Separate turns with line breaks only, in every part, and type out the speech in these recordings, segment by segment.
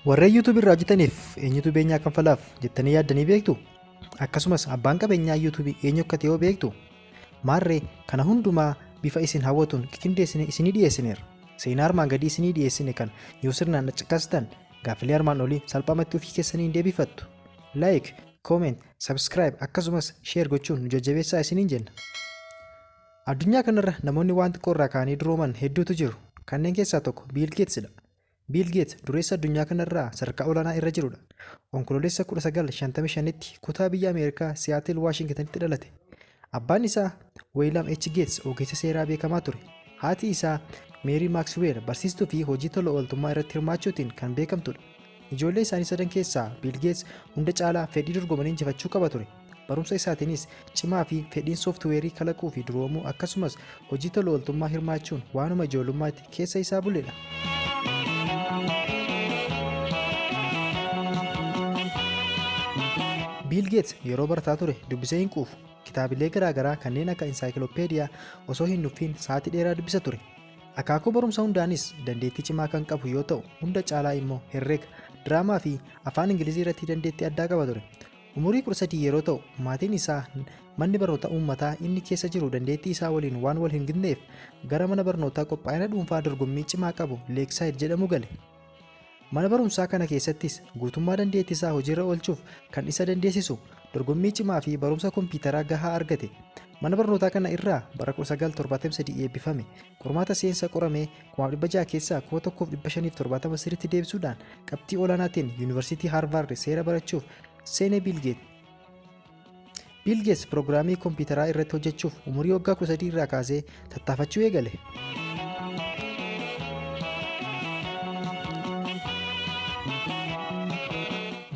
Warreen YouTube irraa hojjetaniif eenyutu beenyaa kanfalaaf jettanii yaaddanii beektu? Akkasumas abbaan qabeenyaa YouTube eenyu akka ta'e hoo beektu? Maarree kana hundumaa bifa isin hawwatuun qiqindeessinee isinii dhiyeessineera. Seenaa armaan gadii isinii dhiyeessine kan yoo sirnaan caqastan gaaffilee armaan olii salphaamatti ofii keessanii hin deebifattu. Like, comment, subscribe akkasumas share gochuun nu jajjabeessaa isiniin jenna. Addunyaa kanarra namoonni waan xiqqoo irraa ka'anii durooman hedduutu jiru. Kanneen keessaa tokko Biil Geetsidha. Biil Geet dureessa addunyaa kana irraa sadarkaa olaanaa irra jiru dha. Onkoloolessa 19, 55tti kutaa biyya Ameerikaa Siyaatil Waashingitanitti dhalate. Abbaan isaa Weeylaam H. Geets ogeessa seeraa beekamaa ture. Haati isaa Meerii Maaksiweel barsiistuu fi hojii tola ooltummaa irratti hirmaachuutiin kan beekamtu dha. Ijoollee isaanii sadan keessaa Biil Geets hunda caalaa fedhii dorgomanii injifachuu qaba ture. Barumsa isaatiinis cimaa fi fedhiin sooftiweerii kalaquu fi duroomuu akkasumas hojii tola ooltummaa hirmaachuun waanuma ijoollummaatti keessa isaa buledha. Biil Geets yeroo barataa ture dubbisee hin quufu. Kitaabilee garaagaraa kanneen akka insaayikilopeediyaa osoo hin nuffiin sa'aatii dheeraa dubbisa ture. Akaakuu barumsa hundaanis dandeettii cimaa kan qabu yoo ta'u hunda caalaa immoo herrega, diraamaa fi afaan Ingilizii irratti dandeettii addaa qaba ture. Umurii 13 yeroo ta'u, maatiin isaa manni barnoota uummataa inni keessa jiru dandeettii isaa waliin waan wal hin gitneef gara mana barnootaa qophaa'ina dhuunfaa dorgommii cimaa qabu Leeksaaid jedhamu gale. Mana barumsaa kana keessattis guutummaa dandeettii isaa hojiirra oolchuuf kan isa dandeessisu dorgommii cimaa fi barumsa kompiitaraa gahaa argate. Mana barnootaa kana irraa bara 1973 eebbifame. Qormaata seensa qoramee Kumaaf dhibba ja'a keessaa kuma tokkoof dhibba shaniif torbaatama sirriitti deebisuudhaan qabxii olaanaatiin Yuunivarsiitii Haarvaard seera barachuuf seene Biilgeet. Biilgeets piroogiraamii kompiitaraa irratti hojjechuuf umurii waggaa 13 irraa kaasee tattaafachuu eegale.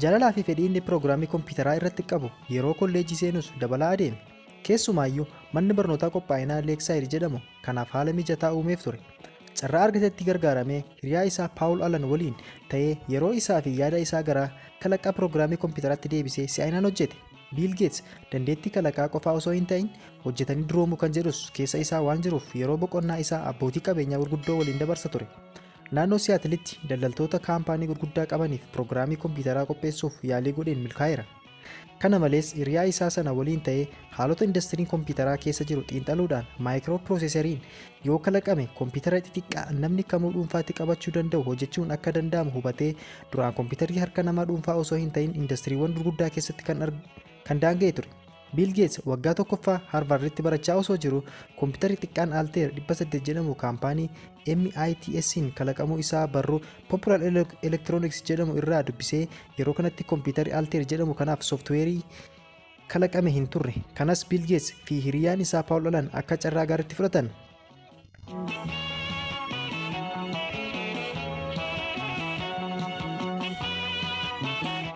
Jaalalaa fi fedhii inni piroogiraamii kompiitaraa irratti qabu yeroo kolleejjii seenus dabalaa adeeme. Keessumaayyuu manni barnootaa qophaa'inaa Leeksaayid jedhamu kanaaf haala mijataa uumeef ture. Carraa argatetti gargaaramee hiriyaa isaa Paawul Alan waliin ta'ee yeroo isaa fi yaada isaa gara kalaqaa piroogiraamii kompiitaraatti deebisee si'aayinaan hojjete. Biil Geets dandeettii kalaqaa qofaa osoo hin ta'in hojjetanii duroomuu kan jedhus keessa isaa waan jiruuf yeroo boqonnaa isaa abbootii qabeenyaa gurguddoo waliin dabarsa ture. Naannoo Siyaatilitti daldaltoota kaampaanii gurguddaa qabaniif piroogiraamii kompiitaraa qopheessuuf yaalii godheen milkaa'eera. Kana malees, hiriyaa isaa sana waliin ta'ee haalota indastiriin kompiitaraa keessa jiru xiinxaluudhaan maayikiroopirooseseriin yoo kalaqame kompiitara xixiqqaa namni kamuu dhuunfaatti qabachuu danda'u hojjechuun akka danda'amu hubatee duraan kompiitarri harka namaa dhuunfaa osoo hin ta'in indastiriiwwan gurguddaa keessatti kan, kan daanga'e ture. Biil Geets waggaa tokkoffaa Harvarditti barachaa osoo jiru kompiitarri xiqqaan Alteer 800 jedhamu kaampaanii MITS'n kalaqamuu isaa barruu Popular Electronics jedhamu irraa dubbisee yeroo kanatti kompiitarri Altair jedhamu kanaaf sooftiweerii kalaqame hin turre. Kanas Bill Gates fi hiriyaan isaa Paul Allen akka carraa gaariitti fudhatan.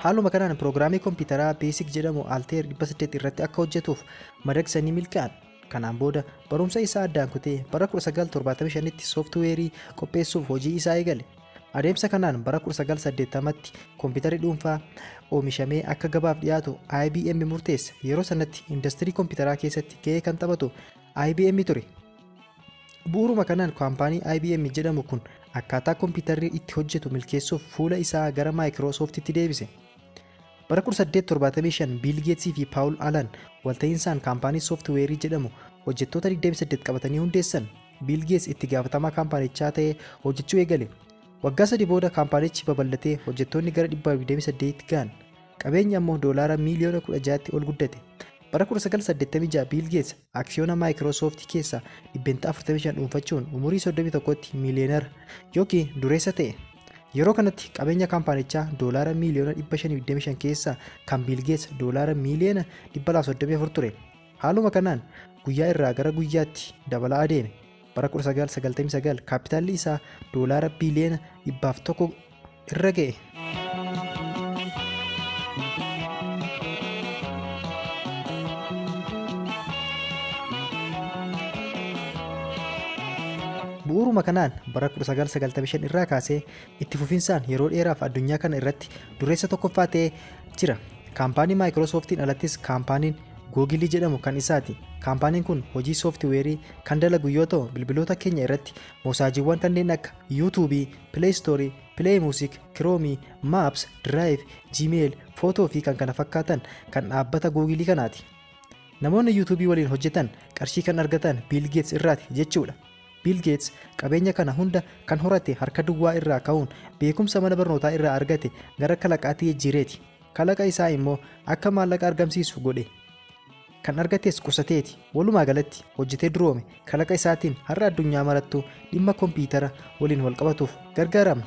Haaluma kanaan piroogiraamii kompiitaraa Basic jedhamu Altair 800 irratti akka hojjetuuf madaqsanii milkaa'an. Kanaan booda barumsa isaa addaan kutee bara 1975tti sooftiweerii qopheessuuf hojii isaa eegale. Adeemsa kanaan bara 1980tti kompiitarri dhuunfaa oomishamee akka gabaaf dhiyaatu IBM murteesse. Yeroo sanatti indastirii kompiitaraa keessatti ga'ee kan taphatu IBM ture. Bu'uuruma kanaan kaampaanii IBM jedhamu kun akkaataa kompiitarri itti hojjetu milkeessuuf fuula isaa gara Maayikiroosooftitti deebise. Bara 1875 Biil Geetsii fi Paawul Alan walta'iinsaan kaampaanii sooftiweerii jedhamu hojjettoota 28 qabatanii hundeessan. Biil Geets itti gaafatamaa kaampaanichaa ta'ee hojjechuu eegale. Waggaa sadii booda kaampaanichi babal'atee hojjettoonni gara 128tti ga'an. Qabeenyi ammoo doolaara miiliyoona 16tti ol guddate. Bara 1986 Biil Geets aksiyoona Microsoft keessaa dhibbentaa 45 dhuunfachuun umurii 31tti miiliyeenara yookiin dureessa ta'e. Yeroo kanatti qabeenya kaampaanichaa doolaara miiliyoona 525 keessaa kan Biil Geets doolaara miiliyoona 234 ture. Haaluma kanaan guyyaa irraa gara guyyaatti dabalaa adeeme. Bara 1999 kaappitaalli isaa doolaara biiliyoona 100 irra ga'e. Bu'uuruma kanaan bara 1995 irraa kaasee itti fufinsaan yeroo dheeraaf addunyaa kana irratti dureessa tokkoffaa ta'ee jira. Kaampaanii Maayikiroosooftiin alattis kaampaaniin Googilii jedhamu kan isaati. Kaampaaniin kun hojii sooftiweerii kan dalagu yoo ta'u, bilbiloota keenya irratti moosaajiiwwan kanneen akka YouTube, Play Store, Play Music, Chrome, Maps, Drive, Gmail, Photo fi kan kana fakkaatan kan dhaabbata Googilii kanaati. Namoonni YouTube waliin hojjetan qarshii kan argatan Bill Gates irraati jechuudha. Bill Gates qabeenya kana hunda kan horate harka duwwaa irraa ka'uun beekumsa mana barnootaa irraa argate gara kalaqaatti jijjiireeti. Kalaqa isaa immoo akka maallaqa argamsiisu godhe. Kan argates qusateeti. Walumaa galatti hojjetee duroome. Kalaqa isaatiin har'a addunyaa marattuu dhimma kompiitara waliin walqabatuuf gargaaramna.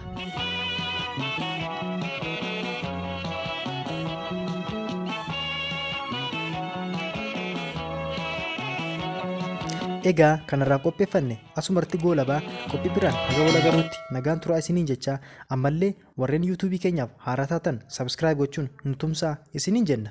Egaa kanarraa qopheeffanne asumarratti goolabaa qophii biraan haga wal agaruutti nagaan turaa isiniin jechaa ammallee Warreen YouTube keenyaaf haaraa taatan subscribe gochuun nu tumsaa isiniin jenna.